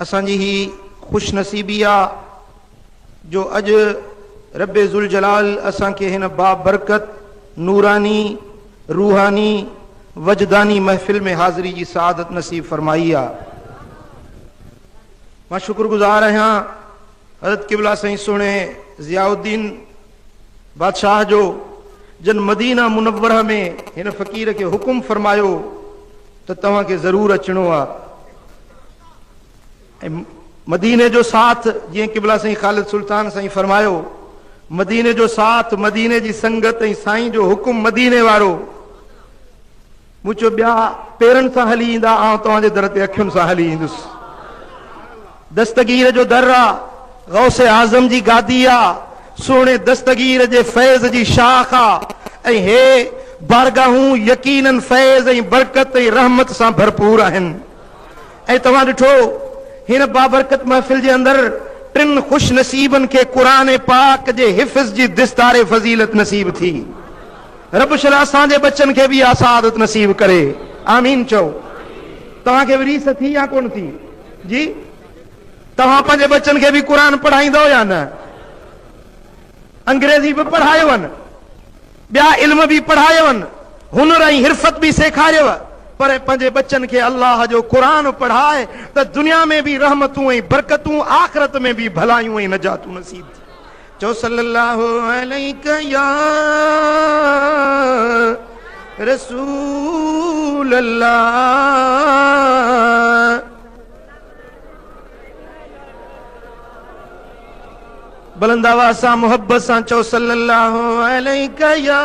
اسان جي هي خوش نصيبي آ جو اڄ ربّ ذوالجلال اسان کي هن بابرڪت، نوراني، روحاني، وجداني محفل ۾ حاضري جي سعادت نصيب فرمائي آ. مان شڪر گذار آهيان حضرت قبله سائين سهڻي ضياء الدين بادشاهه جو، جن مدينه منوره ۾ هن فقير کي حڪم فرمايو ته توهان کي ضرور اچڻو آ ۽ مديني جو ساٿ جيئن قبله سائين خالد سلطان سائين فرمايو مديني جو ساٿ مديني جي سنگت ۽ سائين جو حڪم مديني وارو مون چيو ٻيا پيرن سان هلي ايندا، آئون توهان جي در تي اکين سان هلي ايندس. دستگير جو در آ، غوث اعظم جي گادي آ، سهڻي دستگير جي فيض جي شاخ آ ۽ هي بارگاهون يقيناً فيض ۽ برڪت ۽ رحمت سان ڀرپور آهن ۽ توهان ڏٺو هن بابرڪت محفل جي اندر ٽن خوش نصيبن کي قرآن پاڪ جي حفظ جي دستار فضيلت نصيب ٿي. رب شل اسان جي ٻچن کي به اها سعادت نصيب ڪري آمين چئو توهان کي به ريس ٿي يا ڪون ٿي جي توهان پنهنجي ٻچن کي به قرآن پڙهائيندو يا نه انگريزي به پڙهايون ٻيا علم به پڙهايون هنر ۽ حرفت به سيکاريو پر پنهنجي ٻچن کي الله جو قرآن پڙهاء ته دنيا ۾ به رحمتون ۽ برڪتون آخرت ۾ به ڀلايون ۽ نجاتون نصيب ٿي چئو صلّي اللّٰه عليڪ يا رسول اللّٰه. بلند آواز سان محبت سان چئو صلّي اللّٰه عليڪ يا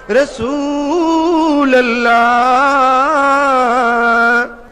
رسول اللّٰه.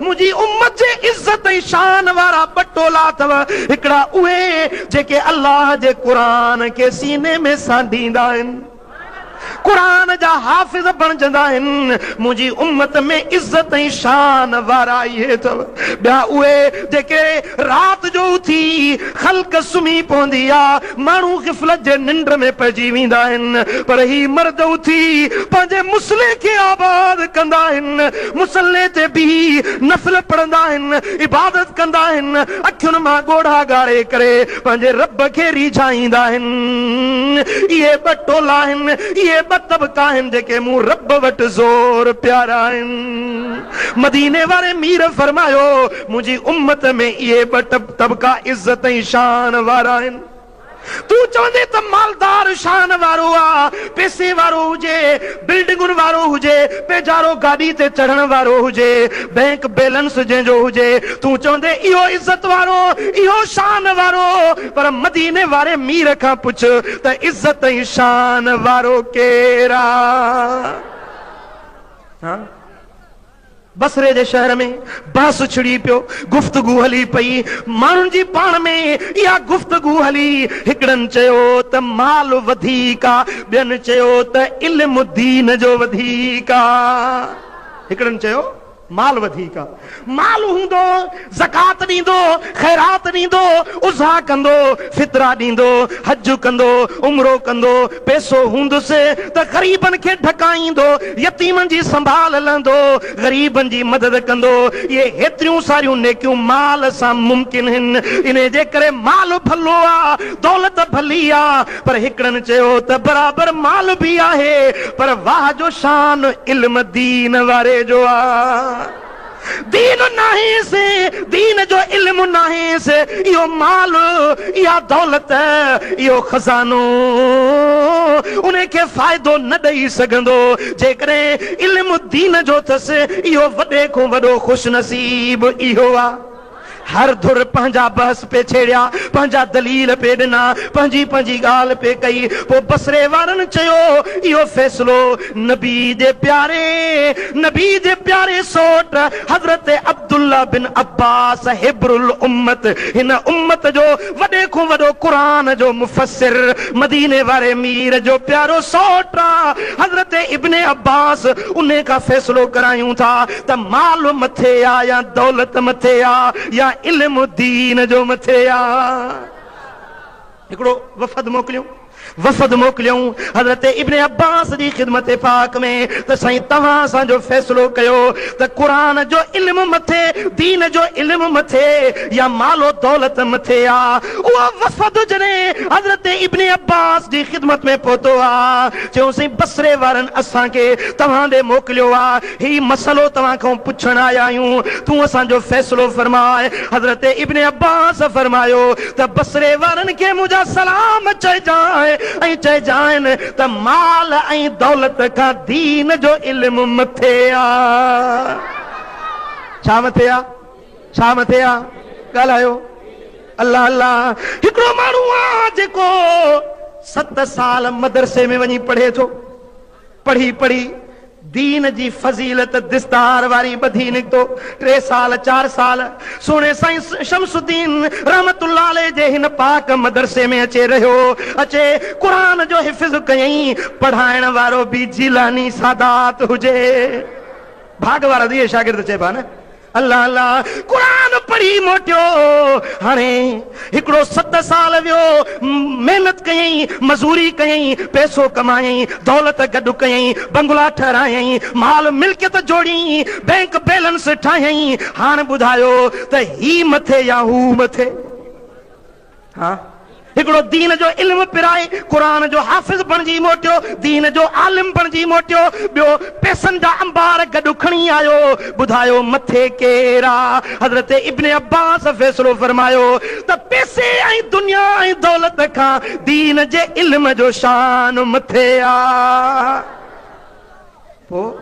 منهنجي امت جي عزت ۽ شان وارا ٻه ٽولا اٿو، هڪڙا اهي جيڪي الله جي قرآن کي سيني ۾ سانڍيندا آهن، قرآن جا حافظ بڻجندا آهن، منهنجي امت ۾ عزت ۽ شان وارا اهي اٿو، ٻيا اهي جيڪي رات جو اٿي خلق سمهي پوندي آ، ماڻهو غفلت جي ننڊ ۾ پئجي ويندا آهن، پر هي مرد اٿي پنهنجي مصلي کي آباد ڪندا آهن. مصلي تي بيهي نفل پڙهندا آهن، عبادت ڪندا آهن، اکين مان ڳوڙها ڳاڙي ڪري پنهنجي رب کي ريجهائيندا آهن. اهي ٻه ٽولا آهن، اهي ٻه طبقا آهن جيڪي مون رب وٽ زور پيارا آهن. مديني واري مير فرمايو، منهنجي امت ۾ اهي ٻه طبقا عزت ۽ شان وارا آهن. تون چوندين ته مالدار شان وارو آ، پئسي وارو هجي، بلڊنگن وارو هجي، پيجارو گاڏي تي چڙهڻ وارو هجي، بئنڪ بيلنس جنهن جو هجي، تون چوندين اهو عزت وارو، اهو شان وارو، پر مديني واري مير کان پڇ ته عزت ۽ شان وارو ڪير آ؟ بصري جي شهر ۾ بحث ڇڙي پيو، گفتگو هلي پئي، ماڻهن جي پاڻ ۾ اها گفتگو هلي، هڪڙن چيو ته مال وڌيڪ آ، ٻين چيو ته علم دين جو وڌيڪ آ، هڪڙن چيو مال وڌيڪ آ، مال هوندو. زڪوات ڏيندو، خيرات ڏيندو، اضحيٰ ڪندو، فطرا ڏيندو، حج ڪندو، عمرو ڪندو، پئسو هوندس ته غريبن کي ڍڪائيندو، يتيمن جي سنڀال لهندو، غريبن جي مدد ڪندو، اهي هيتريون ساريون نيڪيون مال سان ممڪن هن، انهي جي ڪري مال ڀلو آ، دولت ڀلي آ، پر هڪڙن چيو ته برابر مال به آهي، پر واهه جو شان علم دين واري جو آ. دين ناهيس، دين جو علم ناهيس، اهو مال، اها دولت، اهو خزانو ان کي فائدو نه ڏئي سگهندو، جيڪڏهن علم دين جو اٿس، اهو وڏي کان وڏو خوش نصيب اهو آ. هر ڌر پنهنجا بحث پئي ڇيڙيا، پنهنجا دليل پئي ڏنا، پنهنجي پنهنجي ڳالهه پئي ڪئي. پوء بصري وارن چيو، اهو فيصلو نبي جي پياري، نبي جي پياري سوٽ حضرت عبدالله بن عباس حبر الامت، هن امت جو وڏي کون وڏو قرآن جو مفسر، مديني واري مير جو پيارو سوٽ حضرت ابن عباس، انهي کان فيصلو ڪرايون ٿا. ته مال مٿي آ يا دولت مٿي آ يا علم دين جو مٿي آ. هڪڙو وفد موڪليون وفد موڪليون حضرت ابن عباس جي خدمت پاڪ ۾ ته سائين توهان اسان جو فيصلو ڪيو ته قرآن جو علم مٿي دين جو علم مٿي يا مال و دولت مٿي آ اهو وفد جڏهن حضرت ابن عباس جي خدمت ۾ پهتو آ چيون سائين بصري وارن اسان کي توهان ڏي موڪليو آ هي مسئلو توهان کان پڇڻ آيا آهيون، تون اسان جو فيصلو فرماء. حضرت ابن عباس فرمايو ته بصري وارن کي منهنجا سلام چئجانء ۽ چئجانء ته مال ۽ دولت کان دين جو علم مٿي آ. ڇا مٿي آ؟ ڇا مٿي آ؟ ڳالهايو. الله الله. هڪڙو ماڻهو آ جيڪو ست سال مدرسي ۾ وڃي پڙهي ٿو. پڙهي پڙهي دين جي فضيلت دستار واري ٻڌي نڪتو. ٽي سال چار سال سهڻي سائين شمس الدين رحمة الله عليه جي هن پاڪ مدرسي ۾ اچي رهيو. اچي قرآن جو حفظ ڪيائين. پڙهائڻ وارو به جيلاني سادات هجي. ڀاڳ وارا ڌيء شاگرد چئبا نه. الله الله قرآن پڙهي موٽيو هاڻي هڪڙو ست سال ويو محنت ڪيائين مزوري ڪيائين پئسو ڪمايائين دولت گڏ ڪيائين بنگلا ٺهرايائين مال ملڪيت جوڙي بينڪ بيلنس ٺاهيائين هاڻ ٻڌايو ته هي مٿي يا هو مٿي. ها هڪڙو دين جو علم پرائي قرآن جو حافظ بڻجي موٽيو، دين جو عالم بڻجي موٽيو، ٻيو پيسن جا انبار گڏ کڻي آيو، ٻڌايو مٿي ڪير آ؟ حضرت ابن عباس فيصلو فرمايو ته پيسي ۽ دنيا ۽ دولت کان دين جي علم جو شان مٿي آ. پوء؟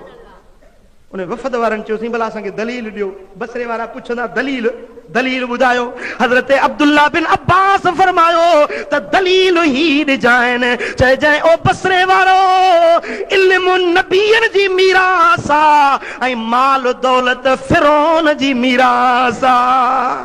انهن وفد وارن چيو سائين ڀلا اسان کي دليل ڏيو. بصري وارا پڇندا دليل؟ دليل ٻڌايو. حضرت عبدالله بن عباس فرمايو ته دليل هي ڏجانء چئجانء او بصري وارؤ! علم نبين جي ميراث آ ۽ مال دولت فرعون جي ميراث آ.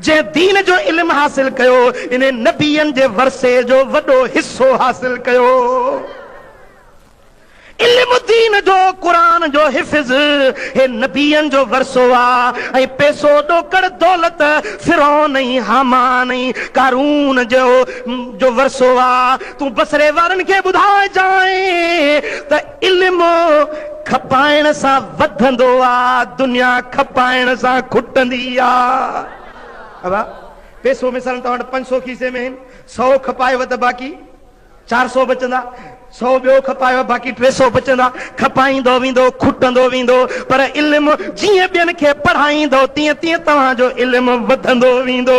جنهن دين جو علم حاصل ڪيو، انهي نبين جي ورثي جو وڏو حصو حاصل ڪيو. علم دين جو، قرآن جو حفظ، هي نبين جو ورثو آ ۽ پئسو، ڏوڪڙ، دولت، فرعون ۽ هامان ۽ قارون جو جو ورثو آ. تون بصري وارن کي ٻڌائجانء ته. علم کپائڻ سان وڌندو آ، دنيا کپائڻ سان کٽندي آ. ابا پيسو مثالاً توهان وٽ پنج سؤ کيسي ۾ هين، سؤ کپايو ته باقي چار سؤ بچندا، سؤ ٻيو کپايو باقي ٽي سؤ بچندا، کپائيندو ويندو کٽندو ويندو، پر علم جيئن ٻين کي پڙهائيندو تيئن تيئن توهان جو علم وڌندو ويندو.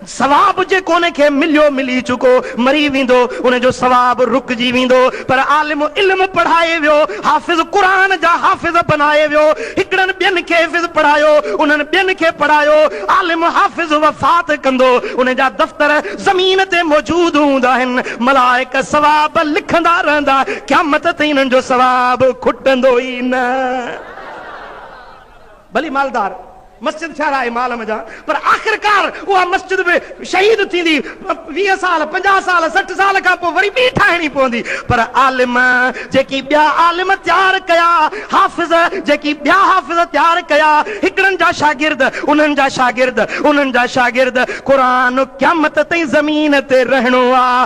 ثواب جيڪو ان کي مليو ملي چڪو مري ويندو ان جو ثواب رڪجي ويندو پر عالم علم پڙهائي ويو حافظ قرآن جا حافظ بنائي ويو هڪڙن ٻين کي حفظ پڙهايو انهن ٻين کي پڙهايو عالم حافظ وفات ڪندو ان جا دفتر زمين تي موجود هوندا آهن ملائڪ ثواب لکندا رهندا قيامت تائين انهن جو ثواب کٽندو ئي نه. ڀلي مالدار مسجد ٺهرائي مال م جان پر آخرڪار اها مسجد به شهيد ٿيندي ويهه سال پنجاهه سال سٺ سال کان پوء وري ٻي ٺاهڻي پوندي پر عالم جيڪي ٻيا عالم تيار ڪيا حافظ جيڪي ٻيا حافظ تيار ڪيا هڪڙن جا شاگرد انهن جا شاگرد انهن جا شاگرد قرآن قيامت تائين زمين تي رهڻو آ.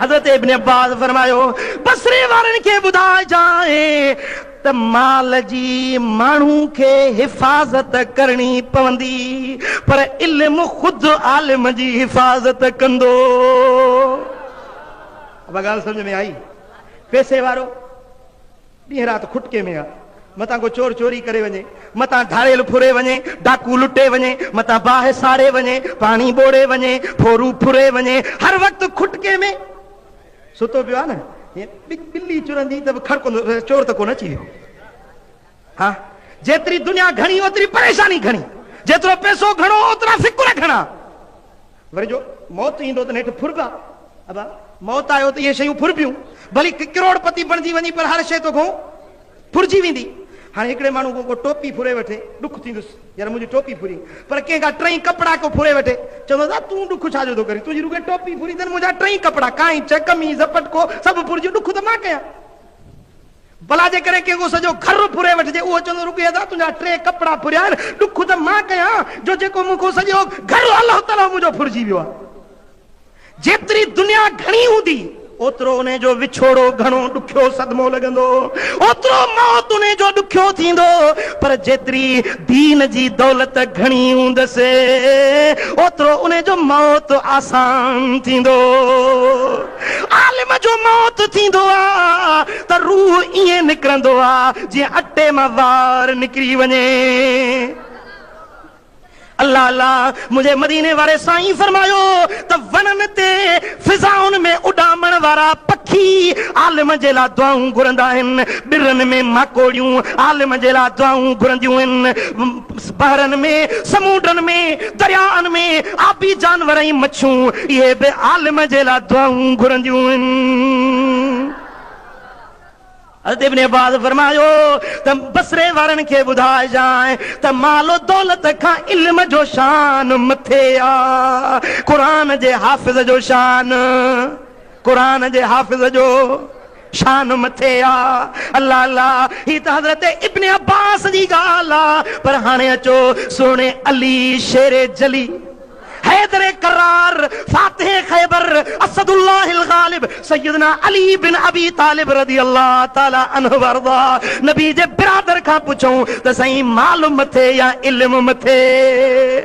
حضرت ابن عباس فرمايو، بصري وارن کي ٻڌائجانء ته مال جي ماڻهو کي حفاظت ڪرڻي پوندي، پر علم خود عالم جي حفاظت ڪندو. اها ڳالهه سمجهه ۾ آئي؟ پئسي وارو. ڏينهن رات کٽڪي ۾ آ. متان ڪو چور چوري ڪري وڃي، متان ڌاڙيل ڦري وڃي، ڊاڪو لٽي وڃي، متان باهه ساڙي وڃي، پاڻي ٻوڙي وڃي، ڦورو ڦري وڃي، هر وقت کٽڪي ۾ ستو پيو آ نه. هيء ٻلي چرندي ته به کڙڪندو رهيس، چور ته ڪونه اچي ويو. ها، جيتري دنيا گهڻي، اوتري پريشاني گهڻي. جيترو پئسو گهڻو، اوترا فڪر گهڻا. وري جو موت ايندو ته نيٺ ڦربا ابا موت آيو ته اهي شيون ڦربيون ڀلي ڪروڙ پتي بڻجي وڃي پر هر شيء توکون ڦرجي ويندي هاڻي هڪڙي ماڻهو کان ڪو ٽوپي ڦري وٺي ڏک ٿيندس يار منهنجي ٽوپي ڦري پر ڪنهن کان ٽئي ڪپڙا ڪو ڦري وٺي چوندو آ تون ڏک ڇا جو ٿو ڪرين تنهنجي رڳي ٽوپي ڦري اٿن منهنجا ٽئي ڪپڙا ڪائنچ قميص پٽڪو سڀ ڦرجي ڏک ته مان ڪيان. ڀلا جيڪڏهن ڪنهن کان سڄو گهر ڦري وٺجي، اهو چوندو، رڳو ادا تنهنجا ٽي ڪپڙا ڦريا آهن، ڏک ته مان ڪيان جو جيڪو مون کان سڄو گهر الهو تلهو منهنجو ڦرجي ويو آهي. جيتري دنيا گهڻي هوندي، اوترو انهي جو وڇوڙو گهڻو ڏکيو صدمو لڳندو، اوترو موت انهي جو ڏکيو ٿيندو، پر جيتري دين جي دولت گهڻي هوندس، اوترو انهي جو موت آسان ٿيندو. عالم جو موت ٿيندو آ ته روح ائين نڪرندو آ جيئن اٽي مان وار نڪري وڃي. الله الله منهنجي مديني واري سائين فرمايو ته وڻن تي فضائن ۾ اڏامڻ وارا پکي عالم جي لا دعائون گهرندا آهن، ٻرن ۾ ماڪوڙيون عالم جي لا دعائون گهرنديون آهن. بحرن ۾، سمونڊن ۾، دريائن ۾، آبي جانور ۽ مڇون، اهي به عالم جي لاء دعائون گهرنديون آهن. حضرت ابن عباس فرمايو ته بصري وارن کي ٻڌائجانء ته مال و دولت کان علم جو شان مٿي آ. قرآن جي حافظ جو شان. قرآن جي حافظ جو شان مٿي آ. الله الله هي ته حضرت ابن عباس جي ڳالهه آ پر هاڻي اچو سهڻي علي شير جلي حيدر ڪرار فاتح خيبر اسد الله الغالب سيدنا علي بن ابي طالب رضي الله تعالي عنه وارضاه نبي جي برادر کان پڇون ته سائين مال مٿي يا علم مٿي؟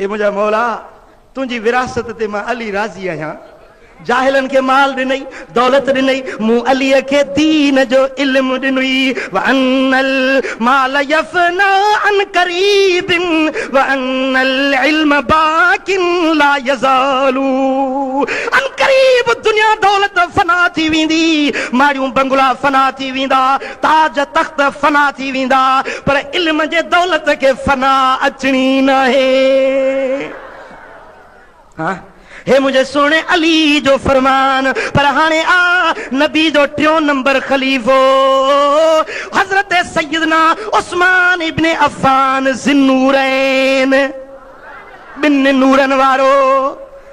اي منهنجا مولا! تنهنجي وراثت تي مان علي راضي آهيان. جاهلن کي مال ڏنئي، دولت ڏنئي، مون عليء کي دين جو علم ڏنئي. وان المال يفنيٰ عن قريب وان العلم باق لا يزال عن قريب دنيا دولت فنا ٿي ويندي، ماڙيون بنگلا فنا ٿي ويندا، تاج تخت فنا ٿي ويندا پر علم جي دولت کي فنا اچڻي ناهي ها هي منهنجي سهڻي علي جو فرمان پر هاڻي آ نبي جو ٽيون نمبر خليفو حضرت سيدنا عثمان ابن عفان ذي النورين ٻن نورن وارو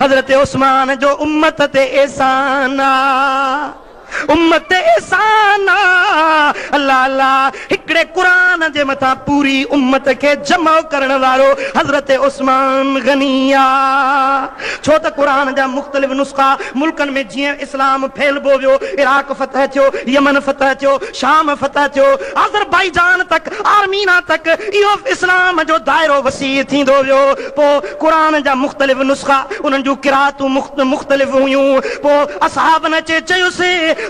حضرت عثمان جو امت تي احسان آ امت تي احسان آ الله الله هڪڙي قرآن جي مٿان پوري امت کي جمع ڪرڻ وارو حضرت عثمان غني آ ڇو ته قرآن جا مختلف نسخا ملڪن ۾ جيئن اسلام ڦهلبو ويو عراق فتح ٿيو يمن فتح ٿيو شام فتح ٿيو آذربائيجان تڪ آرمينا تڪ اهو اسلام جو دائرو وسيع ٿيندو ويو پوء قرآن جا مختلف نسخا، انهن جون قرائتون مختلف هيون. پوء اصحابن اچي چيس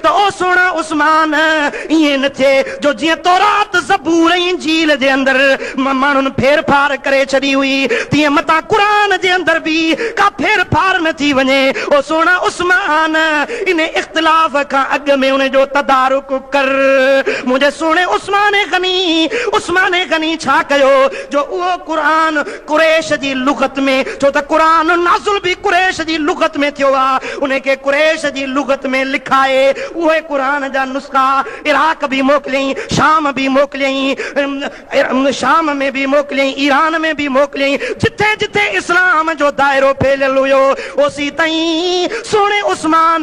ته او سهڻا عثمان! ائين نه ٿئي جو جيئن تورات، زبور ۽ انجيل جي اندر ماڻهن ڦير ڦار ڪري ڇڏي هئي، تيئن متان قرآن جي اندر به ڪا ڦير ڦار نه ٿي وڃي. او سهڻا عثمان! ان اختلاف کان اڳ ۾ ان جو تدارڪ ڪر. منهنجي سهڻي عثمان غني! عثمان غني ڇا ڪيو جو اهو قرآن قريش جي لغت ۾، ڇو ته قرآن نازل به قريش جي لغت ۾ ٿيو آهي، انهي کي قريش جي لغت ۾ لکائي اهي قرآن جا نسخا عراق به موڪليائين، شام به موڪليائين، شام ۾ به موڪليائين، ايران ۾ به موڪليائين، جتي جتي اسلام جو دائرو ڦهليل هيو، اوسيتائين سهڻي عثمان.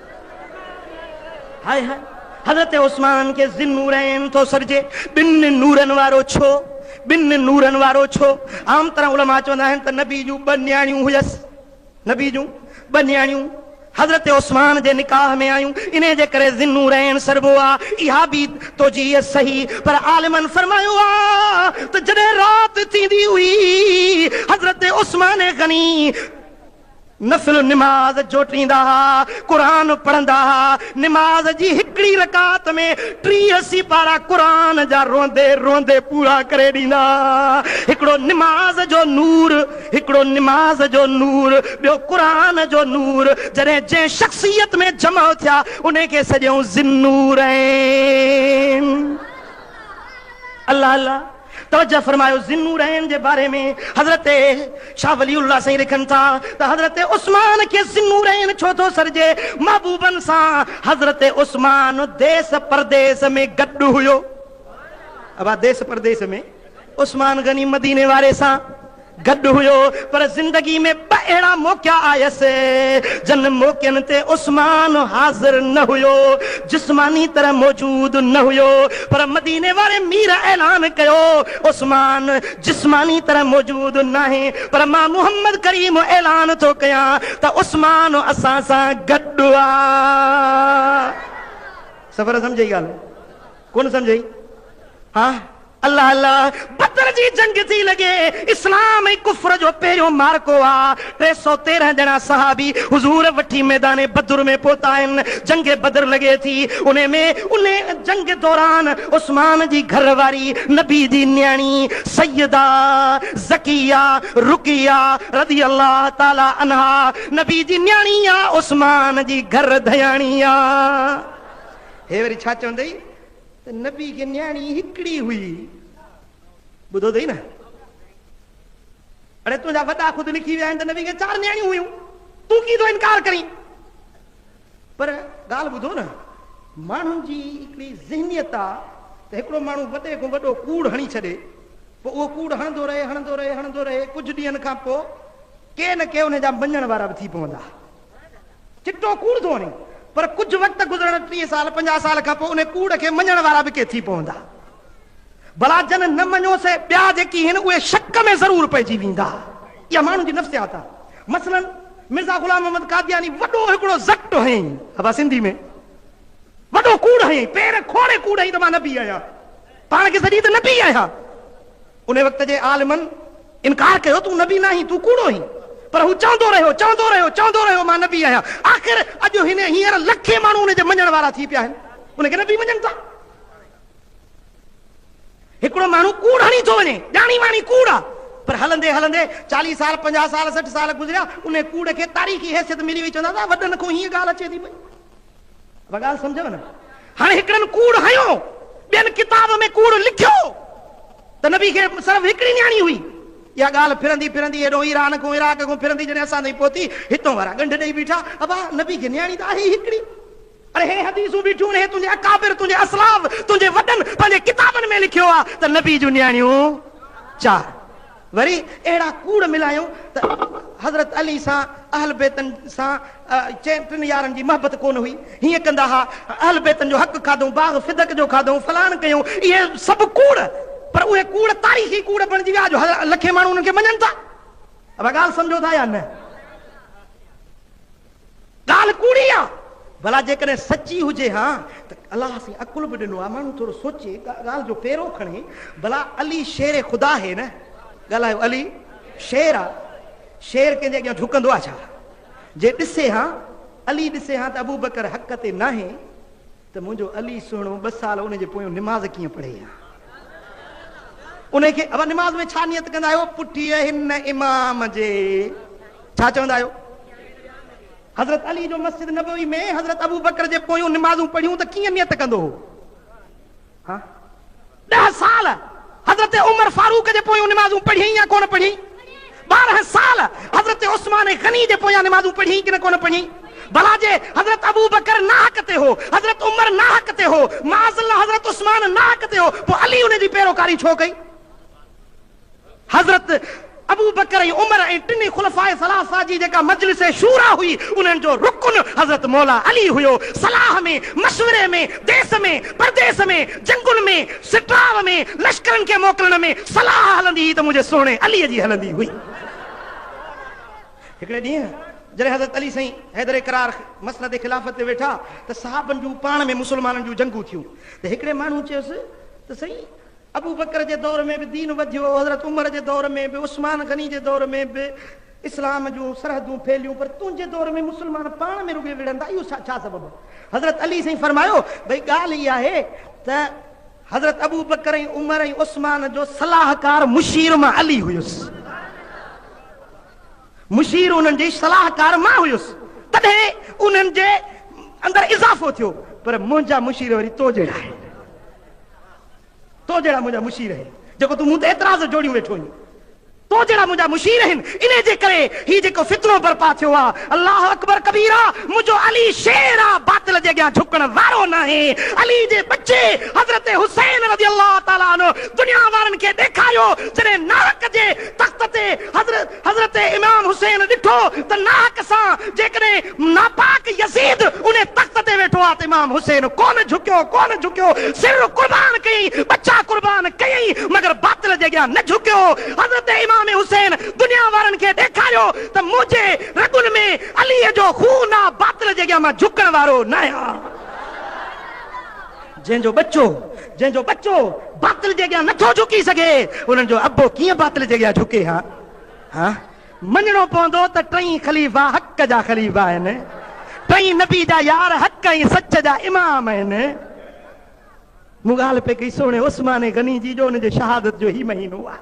High high! حضرت عثمان کي ذي النورين ٿو سڏجي، ٻن نورن وارو ڇو؟ ٻن نورن وارو ڇو؟ عام طرح علماء چوندا آهن ته نبي جون ٻه نياڻيون هيس، نبي جون ٻه نياڻيون حضرت عثمان جي نڪاح ۾ آيون، انهي جي ڪري ذي النورين سڏبو آ، اها به توجيهه صحيح، پر عالمن فرمايو آ ته جڏهن رات ٿيندي هئي، حضرت عثمان غني، نفل نماز جوٽيندا ها، قرآن پڙهندا ها، نماز جي هڪڙي رڪعت ۾ ٽيهه سيپارا قرآن جا روئندي روئندي پورا ڪري ڏيندا ها. هڪڙو نماز جو نور، هڪڙو نماز جو نور، ٻيو قرآن جو نور، جڏهن جنهن شخصيت ۾ جمع ٿيا، انهي کي سڏيائون ذي النورين. الله الله. توجه فرمايو ذي النورين جي باري ۾ حضرت شاھ ولي الله سائين لکن ٿا ته حضرت عثمان کي ذي النورين ڇو ٿو سڏجي محبوبن سان حضرت عثمان ديس پرديس ۾ گڏ ھيو ابا ديس پرديس ۾ عثمان غني مديني واري سان گڏ هيو پر زندگي ۾ ٻه اهڙا موقعا آيس جن موقعن تي عثمان حاضر نه هيو جسماني طرح موجود نه هيو پر مديني واري مير اعلان ڪيو عثمان جسماني طرح موجود ناهي پر مان محمد ڪريم اعلان ٿو ڪيان ته عثمان اسان سان گڏ آ سفر سمجهي ڳالهه. ڪونه سمجهيئي ها الله الله بدر جي جنگ ٿي لڳي اسلام ۽ ڪفر جو پهريون معرڪو آ ٽي سؤ تيرنهن ڄڻا صحابي حضور وٺي ميدان بدر ۾ پهتا آهن جنگ بدر لڳي ٿي انهي ۾ انهي جنگ دوران عثمان جي گهر واري نبي جي نياڻي سيده زڪيه رقيه رضي الله تعالي عنها نبي جي نياڻي آ عثمان جي گهر ڌياڻي آ هي وري ڇا چوندئي ته نبي کي نياڻي هڪڙي هئي. ٻڌو اٿئي نه؟ اڙي تنهنجا وڏا خود لکي ويا آهن ته نبي کي چار نياڻيون هيون. تون ڪيئن ٿو انڪار ڪرين؟ پر ڳالهه ٻڌو نه، ماڻهن جي هڪڙي ذهنيت آ ته هڪڙو ماڻهو وڏي کان وڏو ڪوڙ هڻي ڇڏي، پوء اهو ڪوڙ هڻندو رهي، هڻندو رهي، هڻندو رهي، ڪجهه ڏينهن کان پوء ڪي نه ڪي ان جا مڃڻ وارا به ٿي پوندا. چٽو ڪوڙ ٿو وڻي، پر ڪجهه وقت گذرڻ، ٽيهه سال، پنجاهه سال کان پوء انهي ڪوڙ کي مڃڻ وارا به ڪي ٿي پوندا. ڀلا جن نه مڃيو سي ٻيا جيڪي هين اهي شڪ ۾ ضرور پئجي ويندا. اها ماڻهن جي نفسيات آ. مثلاً مرزا غلام محمد قادياني وڏو هڪڙو ضٽ هئين، ابا سنڌي ۾، وڏو ڪوڙ هئين، پير کوڙي ڪوڙ هئين ته مان نبي آهيان. پاڻ کي سڏي ته نبي آهيان. انهيء وقت جي عالمن انڪار ڪيو، تون نبي ناهين، تون ڪوڙو آهين. پر هو چوندو رهيو، چوندو رهيو، چوندو رهيو، مان نبي آهيان. آخر اڄ هن هينئر لکين ماڻهو ان جي مڃڻ وارا ٿي پيا آهن. ان کي نبي مڃن ٿا. هڪڙو ماڻهو ڪوڙ هڻي ٿو وڃي، ڄاڻي واڻي ڪوڙ آ، پر هلندي هلندي چاليهه سال، پنجاهه سال، سٺ سال گذريا، انهيء ڪوڙ کي تاريخي حيثيت ملي وئي، چوندا ته وڏن کان هيء ڳالهه اچي ٿي پئي. اها ڳالهه سمجهيو نه؟ هاڻي هڪڙن ڪوڙ هنيو، ٻين ڪتاب ۾ ڪوڙ لکيو ته نبي کي صرف هڪڙي نياڻي هئي. اها ڳالهه ڦرندي ڦرندي هيڏهون ايران کان عراق کان ڦرندي جڏهن اسان تائين پهتي، هتان وارا ڳنڍ ڏئي بيٺا، ابا نبي کي نياڻي ته آهي ئي هڪڙي. اڙي هي حديثون بيٺيون آهن، هي تنهنجي اڪابر، تنهنجي اسلاف، تنهنجي وڏن پنهنجي ڪتابن ۾ لکيو آهي ته نبي جون نياڻيون چار. وري اهڙا ڪوڙ ملايو ته حضرت علي سان اهل بيتن سان چئن ٽن يارن جي محبت ڪونه هئي، هيئن ڪندا ها، اهل بيتن جو حق کاڌئون، باغ فدق جو کاڌئون، فلاڻ ڪيون، اهي سڀ ڪوڙ، پر اهي ڪوڙ تاريخي ڪوڙ بڻجي ويا، اڄ لکين ماڻهو انهن کي مڃن ٿا. اوهان ڳالهه سمجهو ٿا يا نه؟ ڳالهه ڪوڙي آ ڀلا جيڪڏهن سچي هجي ها ته الله سين عقل به ڏنو آ ماڻهو ٿورو سوچي ڳالهه جو پيرو کڻي ڀلا علي شير خدا هي نه ڳالهايو علي شير آ شير ڪنهن جي اڳيان جهڪندو آ ڇا جي ڏسي ها علي ڏسي ها ته ابوبڪر حق تي ناهي. ته منهنجو علي سهڻو ٻه سال ان جي پويون نماز ڪيئن پڙهي ها؟ انهيء کي ابا نماز ۾ ڇا نيت ڪندا آهيو؟ پٺيء هن امام جي ڇا چوندا آهيو؟ حضرت علي جو مسجد نبوي ۾ حضرت ابوبڪر جي پويون نمازون پڙهيون ته ڪيئن نيت ڪندو هو؟ ها؟ ڏهه سال حضرت عمر فاروق جي پويون نمازون پڙهيئين يا ڪونه پڙهيئين؟ ٻارهن سال حضرت عثمان غني جي پويان نمازون پڙهيئين ڪنه ڪونه پڙهيئين؟ ڀلا جي حضرت ابوبڪر ناحق تي هو، حضرت عمر ناحق تي هو، معاذ الله حضرت عثمان ناحق تي هو، پوء علي ان جي پيروڪاري ڇو ڪئي؟ حضرت ابوبڪر ۽ عمر ۽ ٽنهي خلفاء ثلاثه جي جيڪا مجلس شوريٰ هئي، انهن جو رڪن حضرت مولا علي هيو. صلاح ۾، مشوري ۾، ديس ۾، پرديس ۾، جنگن ۾، سٽراء ۾، لشڪرن کي موڪلڻ ۾، صلاح هلندي هئي ته منهنجي سهڻي علي جي هلندي هئي. هڪڙي ڏينهن جڏهن حضرت علي سائين حيدر ڪرار مسند خلافت تي ويٺا ته صحابن جون پاڻ ۾ مسلمانن جون جنگون ٿيون ته هڪڙي ماڻهو چيس ته سائين! ابوبڪر جي دور ۾ به دين وڌيو، حضرت عمر جي دور ۾ به، عثمان غني جي دور ۾ به اسلام جون سرحدون ڦهليون پر تنهنجي دور ۾ مسلمان پاڻ ۾ رڳي وڙهن ٿا اهو ڇا سبب؟ حضرت علي سائين فرمايو ڀئي ڳالهه هي آهي ته حضرت ابوبڪر ۽ عمر ۽ عثمان جو صلاحڪار مشير مان علي هيس مشير انهن جي صلاحڪار مان هيس تڏهن انهن جي اندر اضافو ٿيو پر منهنجا مشير وري تو جهڙا آهن. تو جهڙا منهنجا مشير آهن، جيڪو تون مون تي اعتراض جوڙيون ويٺو آهين، تو جهڙا منهنجا مشير آهن، انهي جي ڪري هي جيڪو فتنو برپا ٿيو آ، الله اڪبر ڪبيرا، منهنجو علي شير آ، باطل جي اڳيان جهڪڻ وارو ناهي، علي جي ٻچي حضرت حسين رضي الله تعالٰي عنه دنيا وارن کي ڏيکاريو، جڏهن ناحق جي تخت تي حضرت. حضرت امام حسين ڏٺو ته ناحق سان جيڪڏهن ناپاڪ يزيد ان تخت تي ويٺو آهي ته امام حسين ڪونه جهڪيو، ڪونه جهڪيو، سر قربان ڪيائين، ٻچا قربان ڪيائين، مگر باطل جي اڳيان نه جهڪيو. حضرت امام حسين دنيا وارن کي ڏيکاريو ته منهنجي رڳن ۾ عليء جو خون آ، باطل جي اڳيان مان جهڪڻ وارو ناهيان. جنهن جو ٻچو، جنهن جو ٻچو باطل جي اڳيان نٿو جهڪي سگهي، انهن جو ابو ڪيئن باطل جي اڳيان جهڪي ها؟ ها؟ مڃڻو پوندو ته ٽئي خليفا حق جا خليفا آهن، ٽئي نبي جا يار حق ۽ سچ جا امام آهن. مون ڳالهه پئي ڪئي سهڻي عثمان غني جي جو ان جي شهادت جو هي مهينو آهي.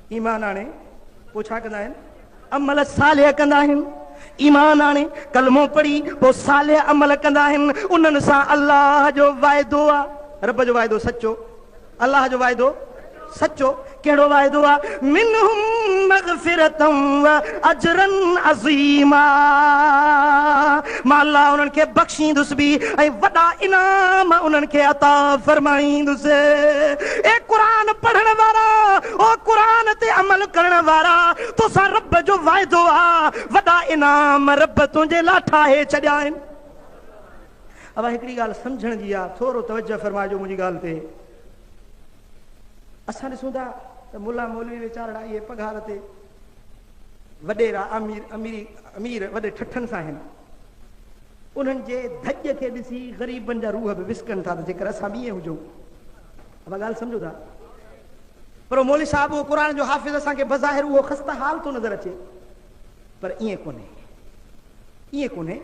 ايمان آڻي پوء ڇا ڪندا آهن؟ عمل صالح ڪندا آهن. ايمان آڻي ڪلمو پڙهي پوء صالح عمل ڪندا آهن. انهن سان الله جو وعدو آهي. رب جو وعدو سچو. الله جو وعدو سچو. ڪهڙو وعدو آهي؟ منهم مغفرة واجرا عظيما. مان الله انهن کي بخشيندس به ۽ وڏا انعام انهن کي عطا فرمائيندس. اي قرآن پڙهڻ وارا! او قرآن تي عمل ڪرڻ وارا! توسان رب جو وعدو آ، وڏا انعام رب تنهنجي لاء ٺاهي ڇڏيا آهن. اوهان هڪڙي ڳالهه سمجهڻ جي آ، ٿورو توجهه فرمائجو منهنجي ڳالهه تي. اسان ڏسون ٿا ته ملا مولوي ويچارڙا اهي پگهار تي، وڏيرا امير امير وڏي ٺٺن سان آهن. انهن جي ڌڄ کي ڏسي غريبن جا روح به وسڪن ٿا ته جيڪر اسان به ائين هجون. اوهان ڳالهه سمجهو ٿا؟ پر مولوي صاحب اهو قرآن جو حافظ اسان کي بظاهر اهو خسته حال ٿو نظر اچي پر ائين ڪونهي. ائين ڪونهي،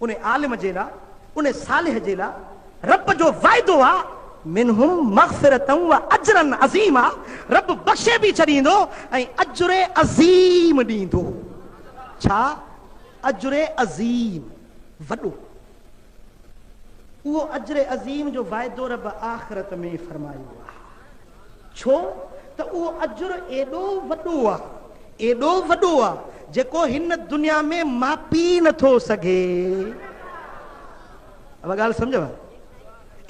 ان عالم جي لا، ان صالح جي لا رب جو وعدو آ، منهم مغفرة و اجرا عظيما رب بخشي به ڇڏيندو ۽ اجر عظيم ڏيندو. ڇا؟ اجر عظيم، وڏو. اهو اجر عظيم جو وعدو رب آخرت ۾ فرمايو آهي ڇو ته اهو اجر ايڏو وڏو آهي ايڏو وڏو آهي جيڪو هن دنيا ۾ ماپي نٿو سگهي اها ڳالهه سمجهو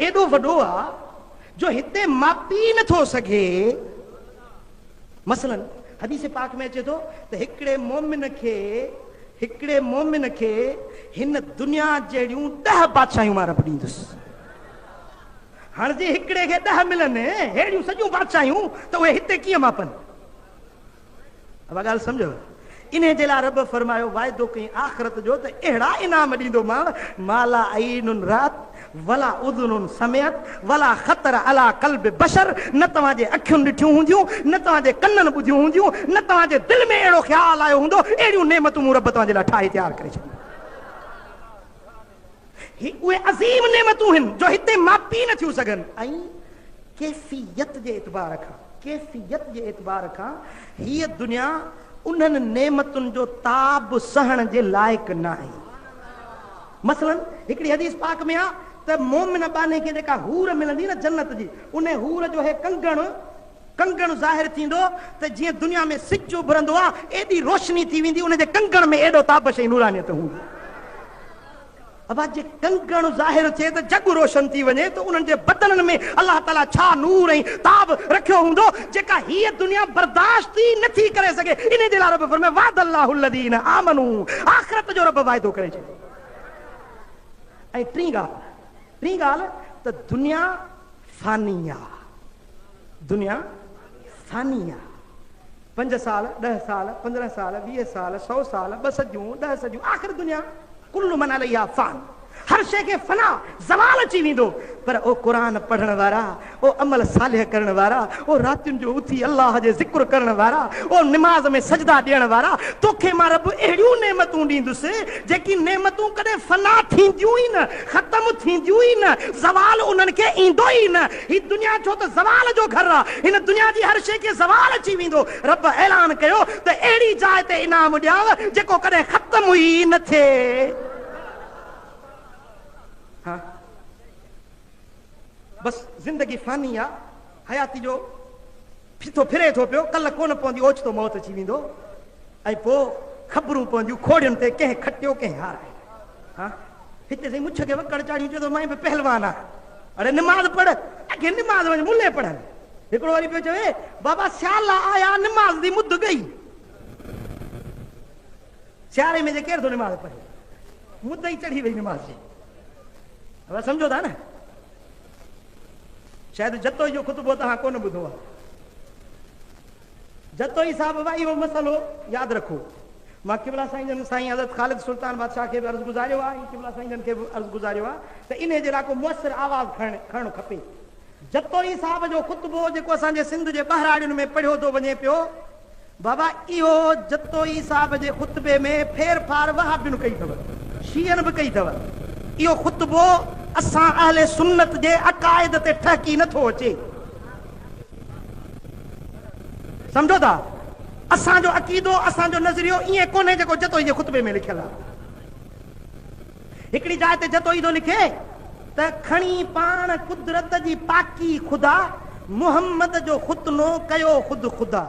ايڏو وڏو آهي جو هتي ماپي نٿو سگهي مثلاً حديث پاڪ ۾ اچي ٿو ته هڪڙي مؤمن کي هڪڙي مؤمن کي هن دنيا جهڙيون ڏهه بادشاهيون مان رب ڏيندس. هاڻ جي هڪڙي کي ڏهه ملن ههڙيون سڄيون بادشاهيون ته اهي هتي ڪيئن ماپن؟ اها ڳالهه سمجهيو؟ انهي جي لاء رب فرمايو، واعدو ڪئين آخرت جو ته اهڙا انعام ڏيندومانء، ما لا عين رات ولا اذن سمعت ولا خطر علي قلب بشر، نه توهان جي اکيون ڏٺيون هونديون، نه توهان جي ڪنن ٻڌيون هونديون، نه توهان جي دل ۾ اهڙو خيال آيو هوندو، اهڙيون نعمتون مون رب توهان جي لاء ٺاهي تيار ڪري ڇڏيون. هي اهي عظيم نعمتون هن جو هتي ماپي نه ٿيون سگهن ۽ ڪيفيت جي اعتبار کان ڪيفيت جي اعتبار کان هيء دنيا انهن نعمتن جو تاب سهڻ جي لائق ناهي. مثلاً هڪڙي حديث پاڪ ۾ آ ته مؤمن ٻانهي کي جيڪا حور ملندي نه جنت جي انهي حور جو هي ڪنگڻ، ڪنگڻ ظاهر ٿيندو ته جيئن دنيا ۾ سج اڀرندو آ، ايڏي روشني ٿي ويندي، ان جي ڪنگڻ ۾ ايڏو تابش ۽ نورانيت هوندي. ابا جي ڪنگڻ ظاهر ٿئي ته جڳ روشن ٿي وڃي ته انهن جي بدنن ۾ الله تعاليٰ ڇا نور ۽ تاب رکيو هوندو جيڪا هيء دنيا برداشت ئي نه ٿي ڪري سگهي، انهي جي لاء رب فرمايو، وعد الله الذين آمنو آخرت جو رب واعدو ڪري ڇڏيو. ۽ ٽين ڳالهه، ٽين ڳالهه ته دنيا فاني آ. دنيا فاني آ. پنج سال، ڏهه سال، پندرهن سال، ويهه سال، سؤ سال، ٻه صديون، ڏهه صديون، آخر دنيا ڪل من عليها فان. هر شيء کي فنا، زوال اچي ويندو. پر او قرآن پڙهڻ وارا، او عمل صالح ڪرڻ وارا، او راتين جو اٿي الله جي ذڪر ڪرڻ وارا، او نماز ۾ سجدا ڏيڻ وارا، توکي مان رب اهڙيون نعمتون ڏيندس، جيڪي نعمتون ڪڏهن فنا ٿينديون ئي نه، ختم ٿينديون ئي نه، زوال انهن کي ايندو ئي نه. هي دنيا ڇو ته زوال جو گهر آ، هن دنيا جي هر شيء کي زوال اچي ويندو. رب اعلان ڪيو ته اهڙي جاء تي انعام ڏيانء جيڪو ڪڏهن ختم ئي نه ٿئي. ها بس زندگي فاني آ، حياتي جو. ڦٿو ڦري ٿو پيو، ڪل ڪونه پوندي اوچتو موت اچي ويندو ۽ پوء خبرون پونديون کوڙين تي ڪنهن کٽيو ڪنهن هارايو. ها هتي سائين مڇ کي وڪڙ چاڙهيون چئي ٿو مائين به پهلوان آ. اڙي نماز پڙهه اگهي نماز وڃ ملي پڙهن. هڪڙو وري پيو چوي بابا سيالا آيا نماز دي مد گئي. سياري ۾ جي ڪير ٿو نماز پڙهي مد ئي چڙهي وئي نماز جي. سمجهو ٿا نه. شايد جتوئي جو خطبو توهان ڪونه ٻڌو آهي. جتوئي صاحب وا اهو مسئلو ياد رکو. مان قبلا سائين جن سائين حضرت خالد سلطان بادشاهه کي به عرض گذاريو آهي ۽ قبلا سائين جن کي به عرض گذاريو آهي ته انهي جي لاء ڪو مؤثر آواز کڻڻ کڻڻ کپي. جتوئي صاحب جو خطبو جيڪو اسان جي سنڌ جي ٻهراڙين ۾ پڙهيو ٿو وڃي پيو. بابا اهو جتوئي صاحب جي خطبي ۾ ڦير ڦار وهابين ڪئي اٿو شيعن به ڪئي اٿو اهو خطبو اسان اهل سنت جي عقائد تي ٺهڪي نه ٿو اچي سمجهو ٿا اسان جو عقيدو اسان جو نظريو ائين ڪونهي جيڪو جتوئي جي خطبي ۾ لکيل آهي. هڪڙي جاء تي جتوئي ٿو لکي ته کڻي پاڻ قدرت جي پاڪي خدا محمد جو ختنو ڪيو خود خدا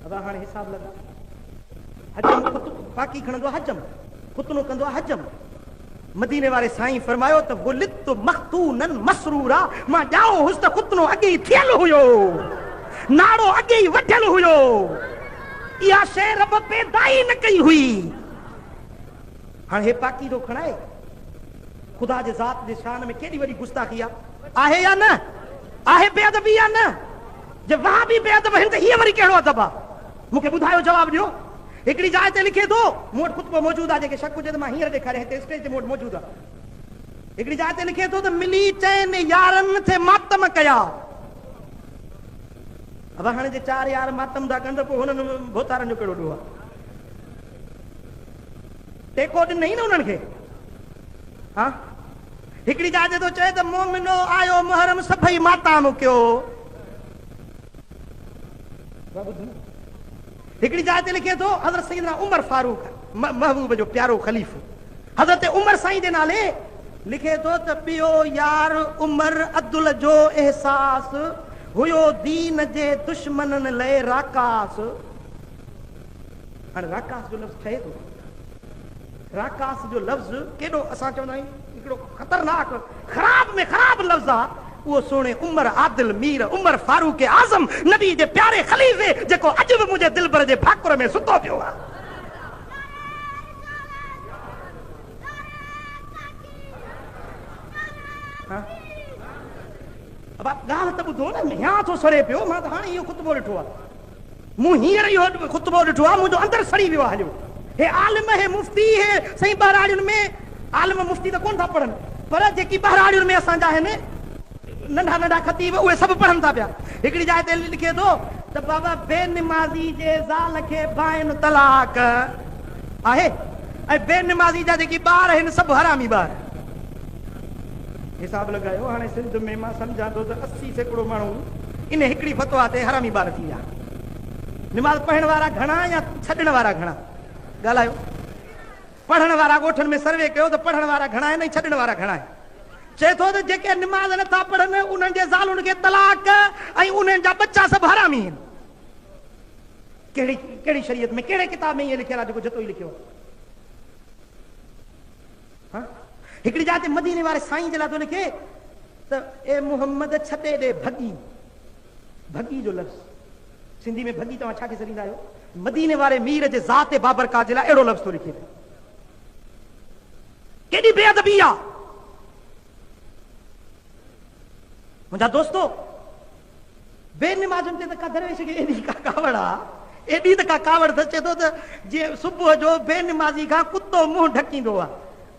ادا هاڻي حساب لڳا حجم خط پاڪي کڻندو آ حجم ختنو ڪندو آ حجم مديني واري سائين فرمايو ته ولدت مختونن مسرورا مان ڄائو هوس ته ختنو اڳي ئي ٿيل هيو ناڙو اڳي ئي وڍيل هيو اها شي رب پيدا ئي نه ڪئي هئي هاڻ هي پاڪيزو کڻ آهي؟ خدا جي ذات جي شان ۾ ڪيڏي وڏي گستاخي آ. آهي يا نه؟ آهي بي ادبي يا نه؟ جي وهابي بي ادب آهن ته هيء وري ڪهڙو ادب آ؟ مون کي ٻڌايو جواب ڏيو. هڪڙي جاء تي لکي ٿو، مون وٽ خطبو موجود آ، جنهن کي شڪ هجي ته مان هينئر ڏيکاريان، هتي اسٽيج تي مون وٽ موجود آ. هڪڙي جاء تي لکي ٿو ته ملي چئن يارن ٿي ماتم ڪيا. وهڻ جي چار يار ماتم ٿا ڪن ته پوء هنن ڀوتارن جو ڪهڙو ڏوهه آ؟ ٽيڪو ڏنئي نه انهن کي ها هڪڙي جاء تي ٿو چئي ته مومنو آيو محرم سڀئي ماتام ڪيو هڪڙي جاء تي لکي ٿو حضرت سيدنا عمر فاروق محبوب جو پيارو خليفو حضرت عمر سائين جي نالي لکي ٿو ته پيو يار عمر عدل جو احساس هيو دين جي دشمنن لئي راڪاس هاڻي راڪاس جو لفظ ٺهي ٿو ڪيئن؟ راڪاس جو لفظ ڪيڏو اسان چوندا آهيون هڪڙو خطرناڪ خراب ۾ خراب لفظ آ اهو سهڻي عمر عادل مير عمر فاروق اعظم نبي جي پياري خليفي جيڪو اڄ به منهنجي دلبر جي ڀاڪر ۾ ستو پيو آ. ابا ڳالهه ته ٻڌو نه ميان ٿو سڙي پيو مان ته هاڻي اهو خطبو ڏٺو آ. مون هينئر اهو خطبو ڏٺو آ منهنجو اندر سڙي ويو آ هليو هي عالم هي مفتي هي سائين ٻهراڙين ۾ عالم مفتي ته ڪون ٿا پڙهن پر جيڪي ٻهراڙين ۾ اسان جا آهن ننڍا ننڍا خطيب اهي سڀ پڙهن ٿا پيا هڪڙي جاء تي لکي ٿو ته بابا بي نمازي جي زال کي بائين طلاق آهي ۽ بي نمازي جا جيڪي ٻار آهن سڀ حرامي ٻار حساب لڳايو هاڻي سنڌ ۾ مان سمجهان ٿو ته اسي سيڪڙو ماڻهو ان هڪڙي فتويٰ تي حرامي ٻار ٿي ويا. نماز پڙهڻ وارا گهڻا يا ڇڏڻ وارا گهڻا؟ ڳالهايو. پڙهڻ وارا ڳوٺن ۾ سروي ڪيو ته پڙهڻ وارا گهڻا آهن ۽ ڇڏڻ وارا گهڻا آهن. چئي ٿو ته جيڪي نماز نه ٿا پڙهن انهن جي زالن کي طلاق ۽ انهن جا ٻچا سڀ حرامي آهن. ڪهڙي ڪهڙي شريعت ۾ ڪهڙي ڪتاب ۾ ائين لکيل آهي جيڪو جتوئي لکيو آهي؟ ها هڪڙي جاء تي مديني واري سائين جي لاء ٿو لکي ته اي محمد ڇتي ڏي ڀڳي، ڀڳي جو لفظ سنڌي ۾ ڀڳي توهان ڇا کي سڏيندا آهيو؟ مديني واري مير جي ذات بابرڪات جي لاء اهڙو لفظ ٿو لکي ته ڪيڏي بي ادبي آ منهنجا دوستو! بي نمازن تي ته ڪا درويش کي ايڏي ڪا ڪاوڙ آ، ايڏي ته ڪا ڪاوڙ اٿس، چئي ٿو ته جي صبح جو بي نمازي کان ڪتو منهن ڍڪيندو آ،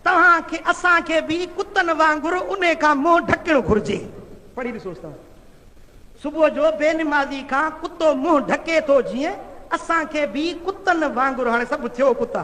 توهان کي اسان کي به ڪتن وانگر انهي کان منهن ڍڪڻ گهرجي. پڙهي ڏسوس ته صبح جو بي نمازي کان ڪتو منهن ڍڪي ٿو جيئن اسان کي به ڪتن وانگر هاڻي سڀ ٿيو ڪتا.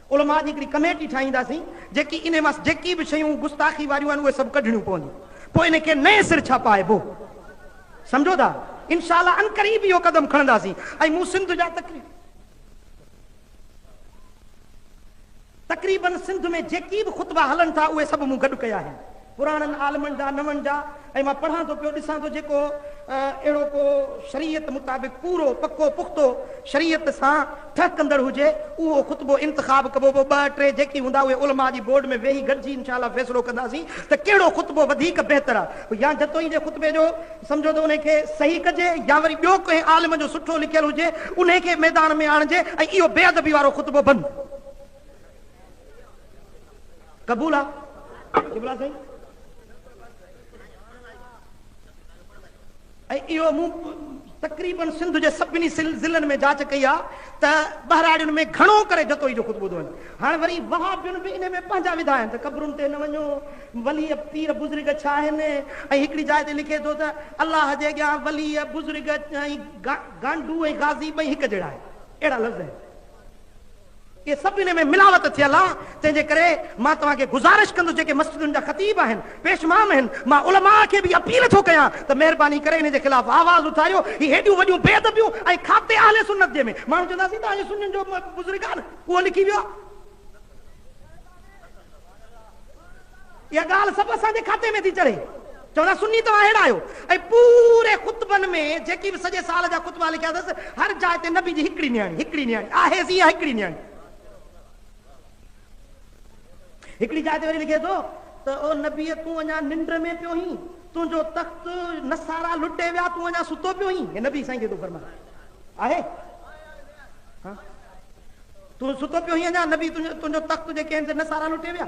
علماء جي هڪڙي ڪميٽي ٺاهينداسين جيڪي انهي مان جيڪي به شيون گستاخي واريون آهن اهي سڀ ڪڍڻيون پونديون پوء انهي کي نئين سر ڇپائبو سمجهو ٿا انشاء الله عنقريب اهو قدم کڻنداسين ۽ مون سنڌ جا تقريب تقريبن سنڌ ۾ جيڪي به خطبا هلن ٿا اهي سڀ مون گڏ ڪيا آهن. پراڻن عالمن جا، نون جا ۽ مان پڙهان ٿو پيو، ڏسان ٿو جيڪو اهڙو ڪو شريعت مطابق پورو پڪو پختو شريعت سان ٺهڪندڙ هجي اهو خطبو انتخاب ڪبو پوء ٻه ٽي جيڪي هوندا اهي علماء جي بورڊ ۾ ويهي گڏجي انشاء الله فيصلو ڪنداسين ته ڪهڙو خطبو وڌيڪ بهتر آ يا جتوئي جي خطبي جو سمجهو ته انهي کي صحيح ڪجي يا وري ٻيو ڪنهن عالم جو سٺو لکيل هجي انهي کي ميدان ۾ آڻجي ۽ اهو بي ادبي وارو خطبو بند قبول آ قبلا سائين ۽ اهو مون تقريبن سنڌ جي سڀني ضلعن ۾ جاچ ڪئي آ ته ٻهراڙين ۾ گهڻو ڪري جتوئي جو خطبو ٿو وڃي هاڻ وري وهابين به ان ۾ پنهنجا وڌا آهن ته قبرن تي نه وڃو ولي پير بزرگ ڇا آهن ۽ هڪڙي جاء تي لکي ٿو ته الله جي اڳيان ولي بزرگ ۽ گانڊو ۽ غازي ٻئي هڪ جهڙا آهن اهڙا لفظ آهن اهي سڀ انهي ۾ ملاوت ٿيل آ، تنهن جي ڪري مان توهان کي گذارش ڪندس جيڪي مسجدن جا خطيب آهن، پيشمام آهن، مان علماء کي به اپيل ٿو ڪيان ته مهرباني ڪري انهي جي خلاف آواز اٿاريو، هي هيڏيون وڏيون بي ادبيون ۽ کاتي اهل سنت جنهن ۾ ماڻهو چوندا سين تهان جو سنين جو بزرگ آ نه اهو لکي ويو آ. اها ڳالهه سڀ اسان جي کاتي ۾ ٿي چڙهي. چون ٿا سني توهان اهڙا آهيو. ۽ پوري خطبن ۾ جيڪي به سڄي سال جا خطبا لکيا اٿس، هر جاء تي نبي جي هڪڙي نياڻي، هڪڙي نياڻي، آهي سي اها هڪڙي نياڻي. هڪڙي جاء تي وري لکي ٿو ته او نبيء تون اڃا ننڊ ۾ پيو هين، تنهنجو تخت نصارا لٽي ويا، تون اڃا ستو پيو هين. هي نبي سائين کي ٿو فرمائي. آهي؟ ها؟ تون ستو پيو هين اڃا نبي تنهنجو تخت تنهنجي ڪين تي نصارا لٽي ويا.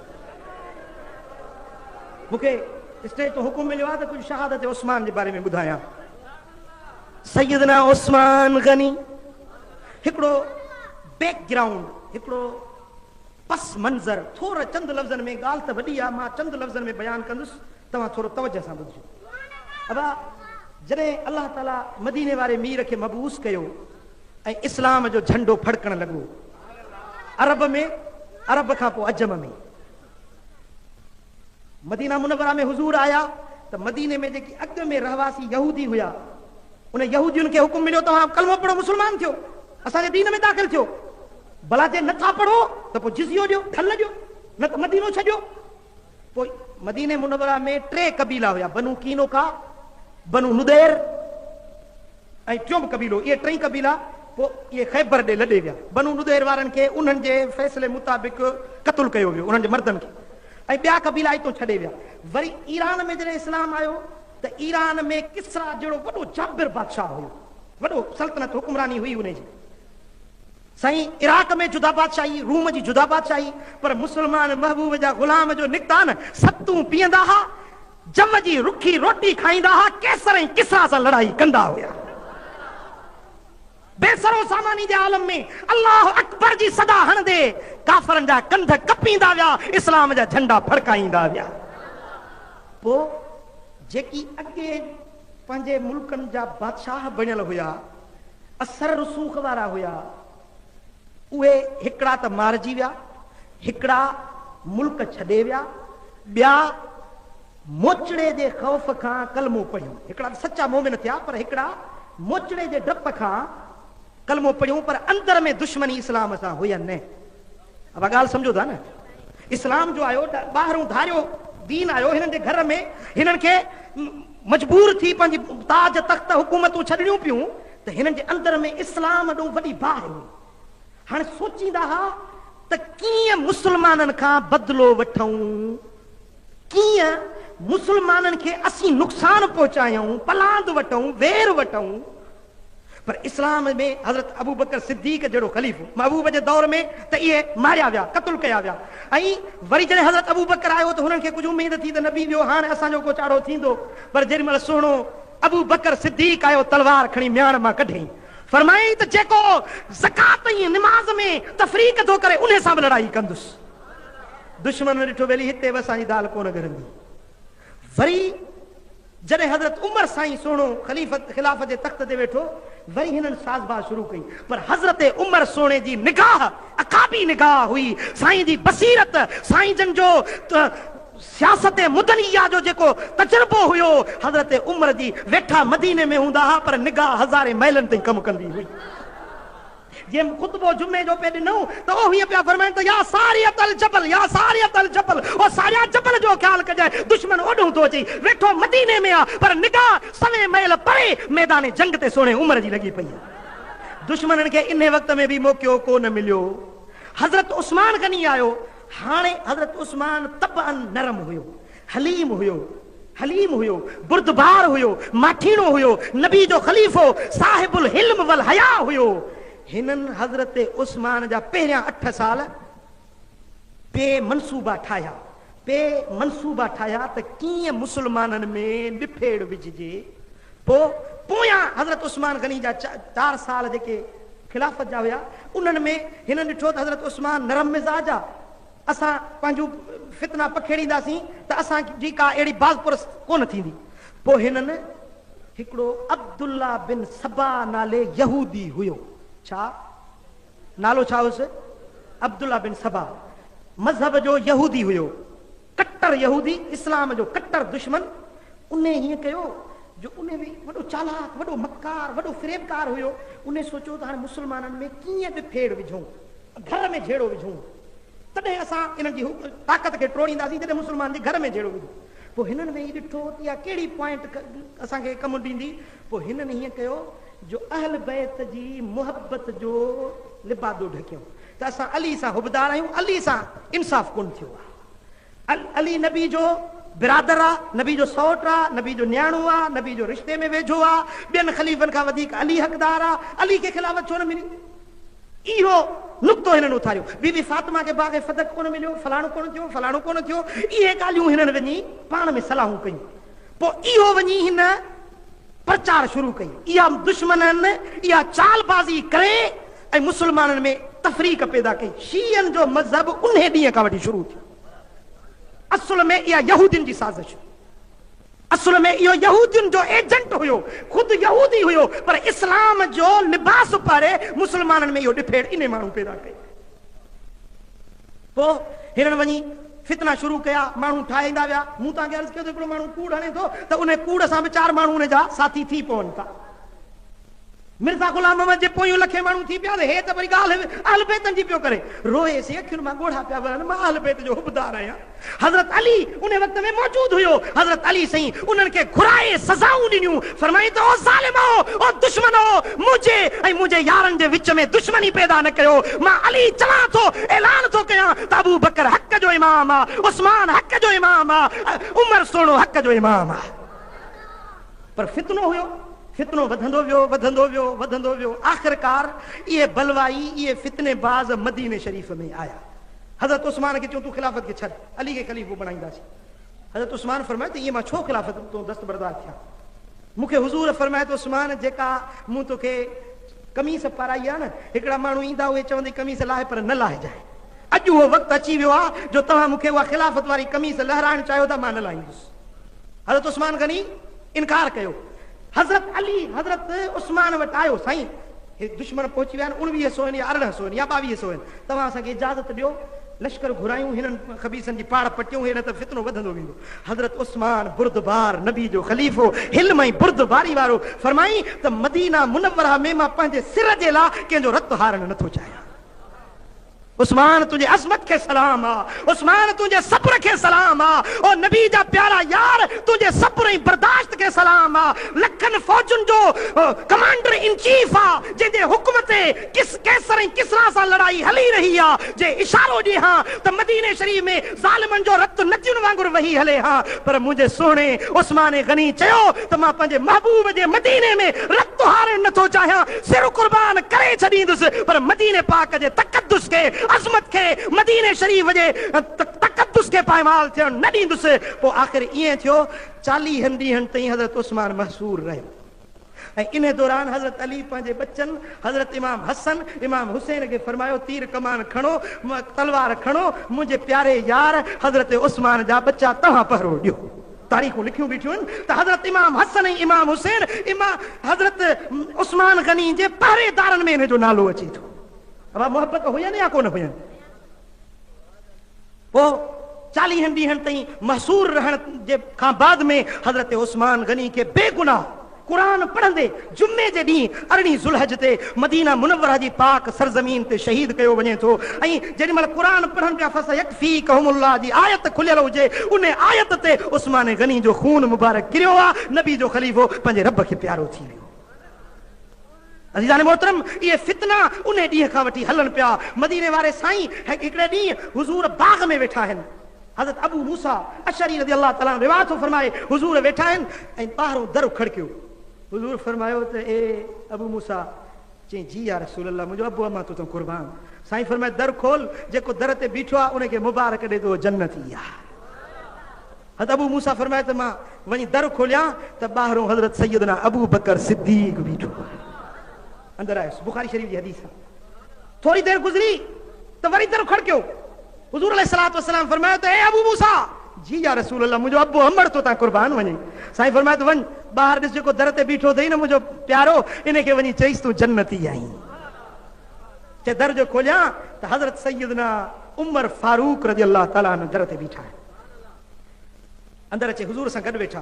مون کي اسٽيج تان حڪم مليو آهي ته ڪجهه شهادت عثمان جي باري ۾ ٻڌايان. سيدنا عثمان غني هڪڙو بيڪ گرائونڊ، هڪڙو پس منظر، ٿورا چند لفظن ۾ ڳالهه ته وڏي آهي، مان چند لفظن ۾ بيان ڪندس، توهان ٿورو توجهه سان ٻڌجو. ابا جڏهن الله تعاليٰ مديني واري مير کي مبعوث ڪيو. ۽ اسلام جو جهنڊو ڦڙڪڻ لڳو عرب ۾ عرب کان پوء عجم ۾ مدينه منوره ۾ حضور آيا ته مديني ۾ جيڪي اڳ ۾ رهواسي يهودي هيا ان يهودين کي حڪم مليو توهان ڪلمو پڙهو مسلمان ٿيو اسان جي دين ۾ داخل ٿيو بلا جي نٿا پڙهو ته پوء جزيو ڏيو ڍل ڏيو نه ته مدينو ڇڏيو پوء مديني منوره ۾ ٽي قبيلا هيا، بنو قينقاع، بنو نضير ۽ ٽيون به قبيلو، اهي ٽئي قبيلا پوء اهي خيبر ڏي لڏي ويا. بنو نضير وارن کي انهن جي فيصلي مطابق قتل ڪيو ويو، انهن جي مردن کي، ۽ ٻيا قبيلا اتو ڇڏي ويا. وري ايران ۾ جڏهن اسلام آيو ته ايران ۾ ڪسريٰ جهڙو وڏو جابر بادشاهه هيو، وڏو سلطنت حڪمراني هئي انهي جي. سائين عراق ۾ جدا بادشاهي روم جي جدا بادشاهي پر مسلمان محبوب جا غلام جو نڪتا نه ستون پيئندا ها جوء جي رکي روٽي کائيندا ها قيصر ۽ ڪسرا سان لڙائي ڪندا هيا بي سر و ساماني جي عالم ۾ الله اڪبر جي صدا هڻندي ڪافرن جا ڪنڌ ڪپيندا ويا اسلام جا جهنڊا ڦڙڪائيندا ويا پوء جيڪي اڳي پنهنجي ملڪن جا بادشاهه بڻيل هيا، اثر رسوخ وارا هيا، اهي هڪڙا ته مارجي ويا، هڪڙا ملڪ ڇڏي ويا، ٻيا موچڙي جي خوف کان ڪلمو پڙهيون، هڪڙا ته سچا مومن ٿيا پر هڪڙا موچڙي جي ڊپ کان ڪلمو پڙهيون پر اندر ۾ دشمني اسلام سان هئي نه. اوھا ڳالھ سمجھو ٿا نه اسلام جو آيو ٻاھرون ڌاريو دين آيو ھنن جي گھر ۾ ھنن کي مجبور ٿي پنھنجي تاج تخت حڪومتون ڇڏڻيون پيون ته ھنن جي اندر ۾ اسلام ڏون وڏي باھ ھئي ھاڻي سوچيندا ھا ته ڪيئن مسلمانن کان بدلو وٺئون ڪيئن مسلمانن کي اسين نقصان پھچايئون پلاند وٺئون وير وٺئون پر اسلام ۾ حضرت ابوبڪر صديق جهڙو خليفو محبوب جي دور ۾ ته اهي ماريا ويا، قتل ڪيا ويا ۽ وري جڏهن حضرت ابوبڪر آيو ته هنن کي ڪجهه اميد ٿي ته نبي ٻيو هاڻ اسان جو ڪو چاڙهو ٿيندو پر جيڏي مهل سهڻو ابوبڪر صديق آيو تلوار کڻي مياڻ مان ڪڍيائين فرمايائين ته جيڪو زڪوات ۽ نماز ۾ تفريق ٿو ڪري انهي سان به لڙائي ڪندس دشمن ڏٺو ويلي هتي به اسان جي دال ڪونه ڳرندي. وري جڏهن حضرت عمر سائين سهڻو خليفت خلافت جي تخت تي ويٺو وري هنن ساز باز شروع ڪئي پر حضرت عمر سهڻي جي نگاهه عقابي نگاهه هئي سائين جي بصيرت سائين جن جو سياست مدنيه جو جيڪو تجربو هيو حضرت عمر جي ويٺا مديني ۾ هوندا ها پر نگاهه هزارين ميلن تائين ڪم ڪندي هئي. جنهن خطبو جمعي جو پئي ڏنو ته او هيئن پيا فرمائن ته يا سارية الجبل يا سارية الجبل او ساريا جبل جو خيال ڪجانء دشمن اوڏهون ٿو اچي ويٺو مديني ۾ آ پر نگاهه سوين ميل پري ميدان جنگ تي سهڻي عمر جي لڳي پئي آ دشمنن کي انهي وقت ۾ به موقعو ڪو نه مليو حضرت عثمان غني آيو هاڻي حضرت عثمان طبعاً نرم هيو حليم هيو، حليم هيو، بردبار هيو، ماٺيڻو هيو، نبي جو خليفو، صاحب الحلم والحياء هيو. هنن حضرت عثمان جا پهريان اٺ سال پي منصوبا ٺاهيا، پي منصوبا ٺاهيا ته ڪيئن مسلمانن ۾ ڏڦيڙ وجهجي. پوء پويان حضرت عثمان غني جا چار سال جيڪي خلافت جا هيا، انهن ۾ هنن ڏٺو ته حضرت عثمان نرم مزاج آ، اسان پنهنجون فتنا پکيڙينداسين ته اسان جي ڪا اهڙي باز پرس ڪونه ٿيندي. پوء هنن هڪڙو عبدالله بن سبا نالي يهودي هيو. ڇا؟ نالو ڇا هيس؟ عبدالله بن سبا. مذهب جو يهودي هيو. ڪٽر يهودي، اسلام جو ڪٽر دشمن. انهي هيئن ڪيو جو انهي به وڏو چالاڪ، وڏو مڪار، وڏو فريبڪار هيو. انهي سوچيو ته هاڻي مسلمانن ۾ ڪيئن به ڦيڙ وجهون. گهر ۾ جهيڙو وجهون تڏهن اسان انهن جي طاقت کي ٽوڙينداسين جڏهن مسلمان جي گهر ۾ جهيڙو وجهون پوء هنن ويهي ڏٺو ته اها ڪهڙي پوائنٽ اسان کي ڪم ڏيندي پوء هنن هيئن ڪيو جو اهل بيت جي محبت جو لبادو ڍڪيون ته اسان علي سان حبدار آهيون علي سان انصاف ڪونه ٿيو آهي علي نبي جو برادر آ نبي جو سئوٽ آ نبي جو نياڻو آ نبي جو رشتي ۾ ويجهو آ ٻين خليفن کان وڌيڪ علي حقدار آ علي کي خلافت ڇو نه ملي اهو نقطو هنن اٿاريو. بي بي فاطمه کي باغ فدڪ ڪونه مليو، فلاڻو ڪونه ٿيو، فلاڻو ڪونه ٿيو، اهي ڳالهيون هنن وڃي پاڻ ۾ صلاحون ڪيون. پوء اهو وڃي هن پرچار شروع ڪئي. اها دشمنن اها چال بازي ڪري ۽ مسلمانن ۾ تفريق پيدا ڪئي. شيعن جو مذهب انهي ڏينهن کان وٺي شروع ٿيو. اصل ۾ اها يهودين جي سازش هئي. اصل ۾ اهو يهودين جو ايجنٽ هيو، خود يهودي هيو پر اسلام جو لباس پاري مسلمانن ۾ اهو ڏڦيڙ انهي ماڻهو پيدا ڪئي. پوء هنن وڃي فتنا شروع ڪيا، ماڻهو ٺاهي ايندا ويا، مون توهان کي عرض ڪيو ته هڪڙو ماڻهو ڪوڙ هڻي ٿو ته انهي ڪوڙ سان به چار ماڻهو ان جا ساٿي ٿي پون ٿا. مرزا غلام محمد جي پويون لکين ماڻهو ٿي پيا ته هي ته وري ڳالهه اهل بيتن جي پيو ڪري. روئي سين اکين مان ڳوڙها پيا وهن، مان اهل بيت جو حبدار آهيان. حضرت علي انهي وقت ۾ موجود هيو. حضرت علي سائين انهن کي گهرائي سزائون ڏنيون. فرمائين ته او ظالمؤ! او دشمنؤ! منهنجي ۽ منهنجي يارن جي وچ ۾ دشمني پيدا نه ڪيو. مان علي چوان ٿو، اعلان ٿو ڪيان ته ابوبڪر حق جو امام آ، عثمان حق جو امام آ ۽ عمر سهڻو حق جو امام آ. پر فتنو هيو، فتنو وڌندو ويو، وڌندو ويو، وڌندو ويو، آخرڪار اهي بلوائي، اهي فتني باز مديني شريف ۾ آيا. حضرت عثمان کي چيو تون خلافت کي ڇڏ، علي کي خليفو بڻائينداسين. حضرت عثمان فرمايو ته ائين مان ڇو خلافت تون دستبردار ٿيان. مون کي حضور فرمايو ته عثمان جيڪا مون توکي قميص پارائي آهي نه، هڪڙا ماڻهو ايندا اهي چوندي قميص لاهه پر نه لاهجانء. اڄ اهو وقت اچي ويو آهي جو توهان مون کي اها خلافت واري قميص لهرائڻ چاهيو ٿا، مان نه لاهيندس. حضرت عثمان غني انڪار ڪيو. حضرت علي حضرت عثمان وٽ آيو، سائين! هي دشمن پهچي ويا آهن، اڻويهه سوين يا ارڙهن سوين يا ٻاويهه سوين، توهان اسان کي اجازت ڏيو، لشڪر گهرايون، هنن خبيثن جي پاڙ پٽيون، اهڙي طرح فتنو وڌندو ويندو. حضرت عثمان بردبار، نبي جو خليفو، حلم ۽ بردباري وارو، فرمائين ته مدينه منوره ۾ مان پنهنجي سر جي لاء ڪنهن جو رت هارڻ نه ٿو چاهيان. عثمان تنهنجي عظمت کي سلام آ. عثمان تنهنجي صبر کي سلام آ. او نبي جا پيارا يار تنهنجي صبر ۽ برداشت کي سلام آ. لکن فوجن جو ڪمانڊر ان چيف آ. جنهن جي حڪم تي ڪس قيصر ۽ ڪسريٰ سان لڙائي هلي رهي آ. جي اشارو ڏيهان ته مديني شريف ۾ ظالمن جو رت ندين وانگر وهي هلي ها پر منهنجي سهڻي عثمان غني چيو ته مان پنهنجي محبوب جي مديني ۾ رت هارڻ نه ٿو چاهيان سر قربان ڪري ڇڏيندس پر مديني پاڪ جي تقدس کي عظمت کي مديني شريف جي تقدس کي پائمال ٿيڻ نه ڏيندس پوء آخر ائين ٿيو چاليهن ڏينهن تائين حضرت عثمان محصور رهيو. ۽ ان دوران حضرت علي پنهنجي ٻچن حضرت امام حسن، امام حسين کي فرمايو تير ڪمان کڻو، تلوار کڻو، منهنجي پياري يار حضرت عثمان جا ٻچا توهان پهرو ڏيو. تاريخون لکيون بيٺيون ته حضرت امام حسن ۽ امام حسين حضرت عثمان غني جي پهريدارن ۾ انهن جو نالو اچي ٿو. اها محبت هين يا ڪونه هين؟ پوء چاليهن ڏينهن تائين محصور رهڻ جي کان بعد ۾ حضرت عثمان غني کي بي گناهه قرآن پڙهندي جمعي جي ڏينهن ارڙهين ذوالحج تي مدينه منوره جي پاڪ سرزمين تي شهيد ڪيو وڃي ٿو ۽ جيڏي مهل قرآن پڙهن پيا فسيڪفيڪهم الله جي آيت کليل هجي ان آيت تي عثمان غني جو خون مبارڪ ڪريو آ نبي جو خليفو پنهنجي رب کي پيارو ٿي ويو. عزيزان محترم! اهي فتنا انهي ڏينهن کان وٺي هلن پيا. مديني واري سائين هڪڙي ڏينهن حضور باغ ۾ ويٺا آهن. حضرت ابو موسيٰ اشعري رضي الله تعالٰي عنه روايت ٿو فرمائي، حضور ويٺا آهن ۽ ٻاهرون در کڙڪيو. حضور فرمايو ته اي ابو موسيٰ! چئي جي يا رسول الله منهنجو ابو امان تو تون قربان. سائين فرمائي در کول، جيڪو در تي بيٺو آهي ان کي مبارڪ ڏي ته اهو جنتي آهي. حضرت ابو موسيٰ فرمايو ته مان وڃي در کوليان ته ٻاهرون حضرت سيدنا ابوبڪر صديق بيٺو آهي. اندر آيس. بخاري شريف جي حديث آهي. ٿوري دير گذري ته وري در کڙڪيو. حضور عليه الصلوة والسلام فرمايو ته اي ابو موسيٰ! جي يا رسول الله منهنجو ابو امڙ تو تان قربان وڃي. سائين فرمايو ته وڃ ٻاهر ڏس جيڪو در تي بيٺو اٿئي نه منهنجو پيارو ان کي وڃي چئيس تون جنتي آهين. چي در جو کوليان ته حضرت سيدنا عمر فاروق رضي الله تعالٰي عنه در تي بيٺا آهن. اندر اچي حضور سان گڏ ويٺا.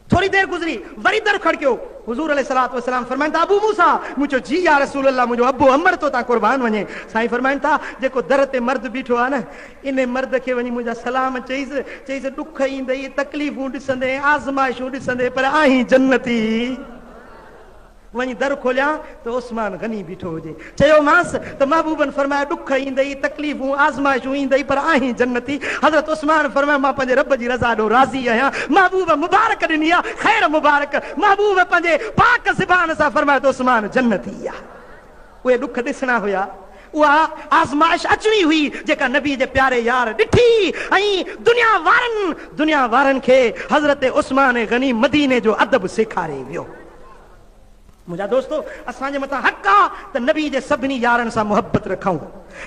ٿوري دير گذري، وري در کڙڪيو. حضور عليه الصلوة والسلام فرمائن ٿا، ابو موسيٰ! مون چيو، جي يا رسول الله، منهنجو ابو عمر تو تان قربان وڃي. سائين فرمائن ٿا، جيڪو در تي مرد بيٺو آهي نه، انهي مرد کي وڃي منهنجا سلام چئيس، چئيس، ڏک ايندئي، تڪليفون ڏسندين، آزمائشون ڏسندين، پر آهين جنتي. وڃي در کوليان ته عثمان غني بيٺو هجي. چيومانس ته محبوبن فرمايو ڏک ايندئي، تڪليفون، آزمائشون ايندئي پر آهين جنتي. حضرت عثمان فرمايو مان پنهنجي رب جي رضا ڏانهن راضي آهيان. محبوب مبارڪ ڏني آ خير مبارڪ. محبوب پنهنجي پاڪ زبان سان فرمايو ته عثمان جنتي آ. اهي ڏک ڏسڻا هيا، اها آزمائش اچڻي هئي جيڪا نبي جي پياري يار ڏٺي ۽ دنيا وارن دنيا وارن کي حضرت عثمان غني مديني جو ادب سيکاري ويو. منهنجا دوستو! اسان جي مٿان حق آ ته نبي جي سڀني يارن سان محبت رکون.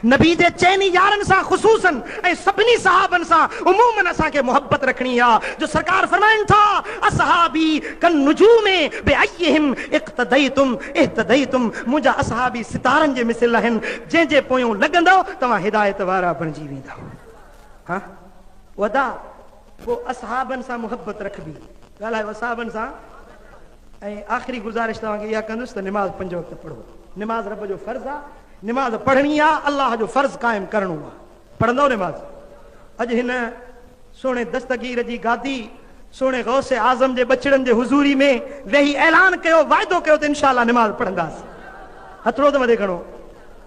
نبي جي چئني يارن سان خصوصاً ۽ سڀني صحابن سان عموماً اسان کي محبت رکڻي آ جو سرڪار فرمائن ٿا، اصحابي كالنجوم بأيهم اقتديتم اهتديتم منهنجا اصحابي ستارن جي مثل آهن جنهن جي پويون لڳندؤ توهان هدايت وارا بڻجي ويندؤ ها ودا پوء اصحابن سان محبت رکبي ڳالهايو اصحابن سان ۽ آخري گذارش توهان کي اها ڪندس ته نماز پنج وقت پڙهو. نماز رب جو فرض آ. نماز پڙهڻي آ. الله جو فرض قائم ڪرڻو آ. پڙهندؤ نماز؟ اڄ هن سهڻي دستگير جي گادي، سهڻي غوث اعظم جي ٻچڙن جي حضوري ۾ ويهي اعلان ڪيو، وعدو ڪيو ته انشاء الله نماز پڙهنداسين. هٿڙو ته مٿي کڻو.